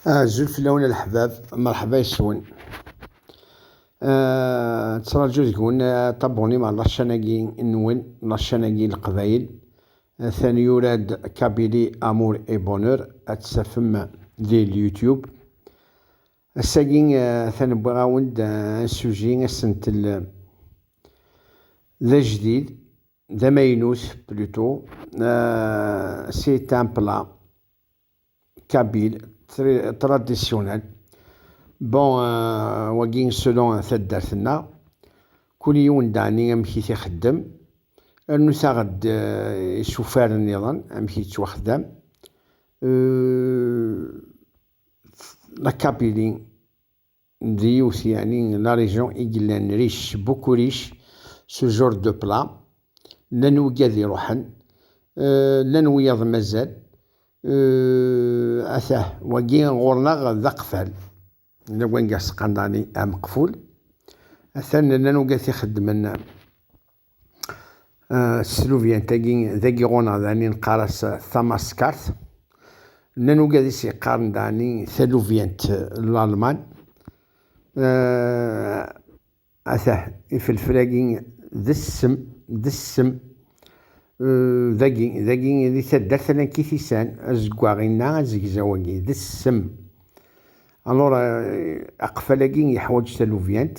Azul fell-awen a leḥbab, merḥba yes-wen. Nettraǧu deg-wen ṭabunim ɣer laččan-agi nwen, laččan-agi n Leqbayel. Atan yura-d Kabili Amour et Bonheur, ad t-tafem di l-Youtube. Ass-agi atan wwiɣ-awen-d un sujet asentel d ajdid. d amaynut plutôt euh, c'est un plat kabyle traditionnel bon euh, wagi selon taddart-nneɣ kul yiwen dani amek i t-ixeddem rnu taɣ-d euh, isufar nniḍen amek yettwaxdam euh, la kabylie d yiwet yeɛni la région i yellan riche beaucoup riche ce genre de plat llan wigad iruḥen llan wiyaḍ mazal atah wagi ɣur-neɣ d aqfal yella wanga scandali ameqful atan llan wigad t-ixeddmen Teslubyant-agi d agiɣun-a dani neqqar-as tamaskart. Nnan ugadis yeqqaren dani talubyant n Lalman. Atah ifelfel-agi d ssem, d ssem dagi, dagi di taddart ala n Kitisan, azeggaɣ inna azegzaw-agi d ssem. Alura aqfal-agi yeḥwaǧ talubyant.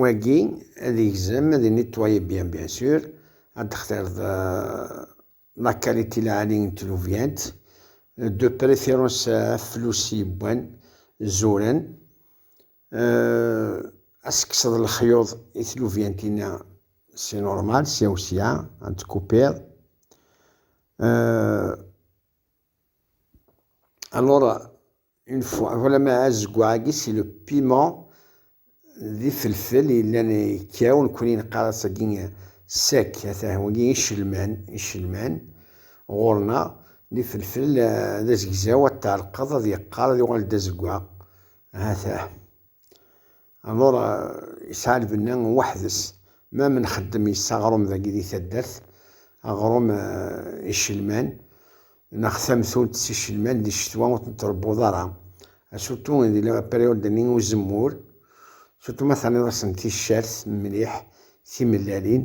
Wagi ad yegzem ad nettoyer bien bien sûr ad textireḍ la qualité lɛali n tlubyant de préférence aflus yewwan zuren ad tekkseḍ lexyuḍ i tlubyantina c'est normal sya u sya ad tkupiḍ alors une fois voilà ma azeggaɣ-agi si le piment d ifelfel yellan ikkaw nekkni neqqar-as agi sec ata wagi icelman icelman ɣur-neɣ d ifelfel d azegzaw ad tɛelqeḍ ad yeqqar ad yuɣal d azeggaɣ ata Alor yesɛa lbenna weḥd-s, ma mi nxeddem yes-s aɣrum dagi di taddart, aɣrum icelman neɣ tamtunt s icelman di ccetwa ur ten-trebbuḍ ara, asutu di la période n uzemmur, sutu ma terniḍ-asen ticcert mliḥ, timellalin,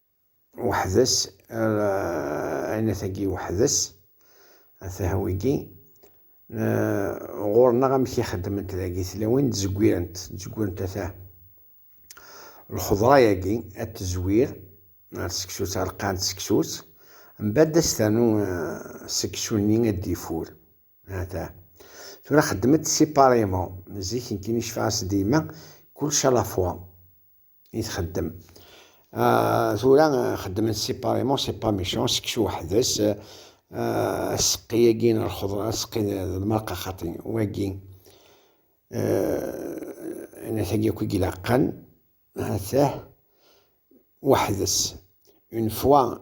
weḥd-s ayennat-agi weḥd-s atah wigi ɣur-neɣ amek i xeddment dagi tlawin ttzeggirent ttzeggirent atah lxeḍra-agi ad tezwir ar seksu-tt ar lqaɛen d seksu-tt mbadda ad s-ternu seksu-nni ad d-ifur atah tura xeddmet siparimo zik nekkin icfaɛas dima kulec a la fois i txeddem. Ah, tura xeddmen séparément, c'est pas méchant, seksu weḥd-s, aseqqi-agi n lxeḍra, aseqqi d lmerqa xaṭi, wagi, anat-agi akk i ilaqen, hatah, weḥd-s, une fois,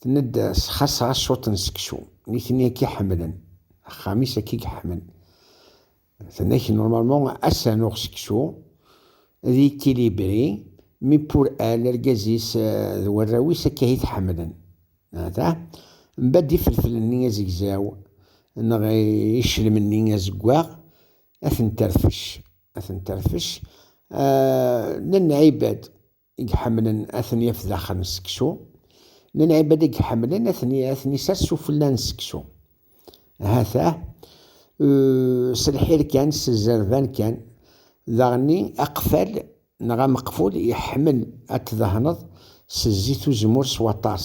Tenna-d s xasra ccuṭ n seksu. Nitni akka i ḥemmlen. Axxam-is akka i yeḥmen. Tenna-k normalement ass anuɣ seksu d équilibré mais pour elle argaz-is d warraw-is akka i t-ḥemmlen. Aha, mbedd ifertel-nni azegzaw neɣ iclem-nni azeggaɣ a ten-terfec, a ten-terfec, a, nnan ɛibad. i iḥemmlen ad ten-yaf daxel n seksu, n lɛibad i iḥemmlen ad ten-isers sufella n seksu. Ahat-ah, s lḥir kan, s zzerban kan, daɣenni aqfal neɣ ameqful iḥemmel ad t-dehneḍ s zzit uzemmur s waṭas.